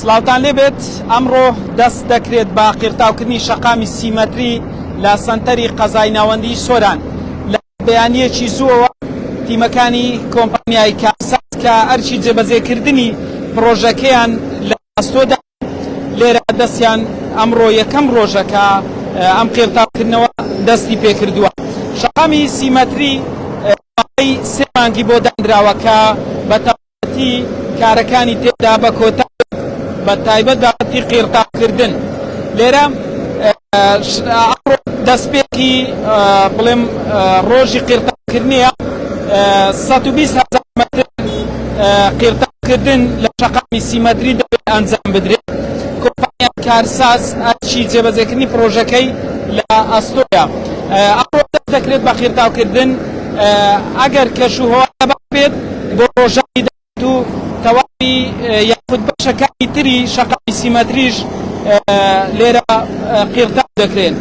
سلاوتان لێبێت ئەمڕۆ دەست دەکرێت بە قیرتاوکردنی شەقامی سیمەتری لە سنتەری قەزای ناوەندی سۆران لە بەیانیەکی زووەوە تیمەکانی کۆمپانیای کاسات کە ئەرچی جێبەجێکردنی پرۆژەکەیان لە ئەستۆدا لێرە دەستیان ئەمڕۆ یەکەم ڕۆژەکە ئەم قیرتاوکردنەوە دەستی پێکردووە شەقامی سیمەتری سێ مانگی بۆ دانراوە کە بە تی کارەکانی تێدا بە کۆتا بە تایبەت بابەتی قیرتاکردن لێرە دەستپێکی بڵێم ڕۆژی قیرتاکردنیە 120 هزار متر قیرتاکردن لە شەقامی سیمەتری دەبێت ئەنجام بدرێت کۆمپانیا کارساز ئەچی جێبەجێکردنی پرۆژەکەی لە ئەستۆیا ئەڕۆ دەکرێت بە قیرتاوکردن ئەگەر کەش و هەوا باش بێت بۆ ڕۆژانی داهاتوو تەواوی یاخود بەشەکانی تری شەقامی سیمەتریش لێرە قیڕتاو دەکرێن.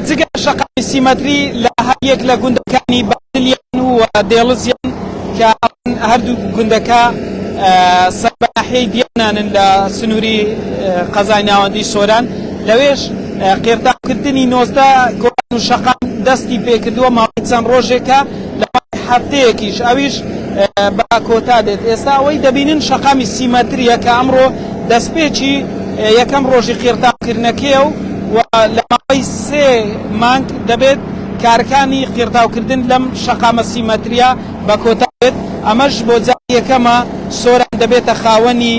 جگە لە شەقامی سیمەتری لە هەر یەک لە گوندەکانی دلیان و دێڵزیان کە هەردوو گوندەکە سەر بە ناحیەی دیانانن لە سنووری قەزای ناوەندی سۆران لەوێش قێرتاوکردنی نۆزدە کۆڵان و شەقام دەستی پێکردووە ماوەی چەند ڕۆژێکە لە هەفتەیەکیش ئەویش بە کۆتا دێت ئێستا ئەوەی دەبینن شەقامی سی مەتریە کە ئەمڕۆ دەستپێکی یەکەم ڕۆژی قێرتاوکردنەکەیە و لە ماوەی سێ مانگ دەبێت کارەکانی قیڕتاوکردن لەم شەقامە سیمەترییە بە کۆتا بێت، ئەمەش بۆ جاری یەکەمە سۆران دەبێتە خاوەنی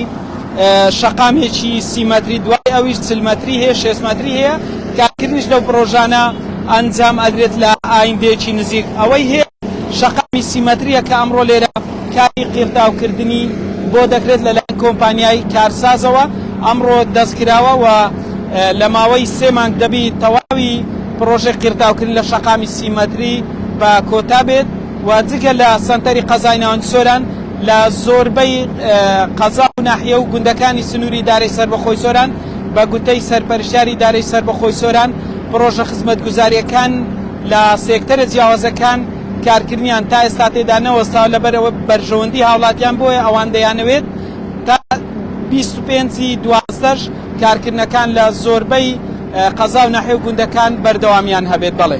شەقامێکی سی مەتری، دوای ئەویش چل مەتری هەیە، شێست مەتری هەیە، کارکردنیش لەو پڕۆژانە ئەنجام ئەدرێت لە ئایندەیەکی نزیک ئەوەی هەیە. شەقامی سیمەترییە کە ئەمڕۆ لێرە کاری قیڕتاوکردنی بۆ دەکرێت لەلایەن کۆمپانیای کارسازەوە ئەمڕۆ دەستکراوە و لە ماوەی سێ مانگ دەبی تەواوی پڕۆژەی قیڕتاوکردن لە شەقامی سیمەتری بە کۆتا بێت و جگە لە سەنتەری قەزای ناوەندی سۆران لە زۆربەی قەزا و ناحیە و گوندەکانی سنووری ئیدارەی سەربەخۆی سۆران بە گوتەی سەرپەرشتیاری ئیدارەی سەربەخۆی سۆران پڕۆژە خزمەتگوزارییەکان لە سێکتەرە جیاوازەکان کارکردنیان تا ئێستا تێدا نەوەستاوە لەبەر ئەوەی بەرژەوەندی هاوڵاتیان بۆیە ئەوان دەیانەوێت تا بیست و پێنج ی دوازدە ش کارکردنەکان لە زۆربەی قەزا و ناحیە و گوندەکان بەردەوامیان هەبێت. بەڵێ.